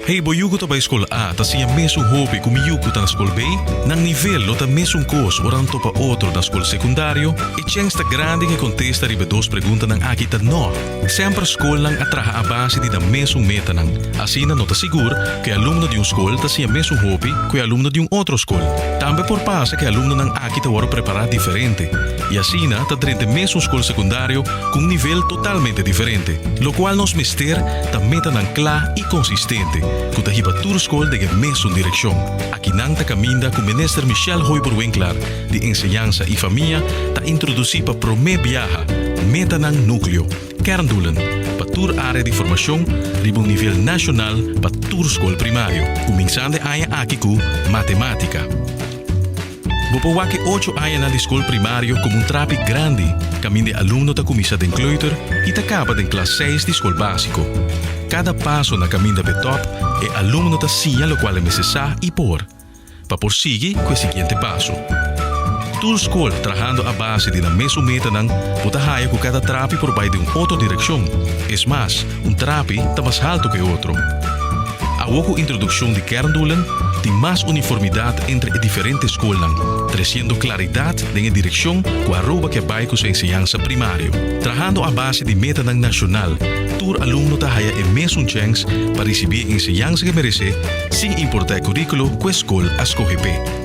Hey bo yucu ta bai scol A ta siña mesun hopi cu mi yucu ta na scol B? Nan nivel no ta mesun cos ora nan topa otro na scol secundario? E chens ta grandi cu e contesta riba e dos preguntanan aki ta no. Semper scolnan a traha a base di nan mesun metanan. Asina no ta sigur cu e alumno di un scol ta siña mesun hopi cu e alumno di un otro scol. Tambe por pasa cu e alumnonan aki ta worde prepara diferente y asina ta drente mesun scol secundario cu un nivel totalmente diferente. Locual nos mester. ta metanan kla i konsistente ku ta hiba tur skol den e mesun direkshon. Aki nan ta kaminda ku Minister Michelle Hoiber Winklar di Enseñansa i Famia ta introdusí pa promé biaha metanan nukleo, kerndoelen, pa tur área di formashon riba un nivel nashonal pa tur skol primario, kuminsando e aña aki ku Matemátika. Bo por wak e ocho añanan di skol primario komo un trapi grandi kaminda e alumno ta kuminsá den kleuter i ta kaba den klas seis di skol básiko. Kada paso na kaminda be tòp e alumno ta siña lokual e mester sa i por pa por sigui ku e siguiente paso. Tur skol trahando a base di nan mesun metanan bo ta haya ku kada trapi por bai den un otro direkshon. Es mas, Un trapi ta mas haltu ku e otro. Awor ku introdukshon di kerndoelen tin mas uniformidat entre e diferente skolnan, tresiendo klaridat den e direkshon ku Aruba ke bai ku su enseñansa primario. Trahando a base di metanan nashonal, tur alumno ta haya e mesun chèns pa risibí e enseñansa ke meresé, sin importá e kuríkulo ku e skol a skohe p'e.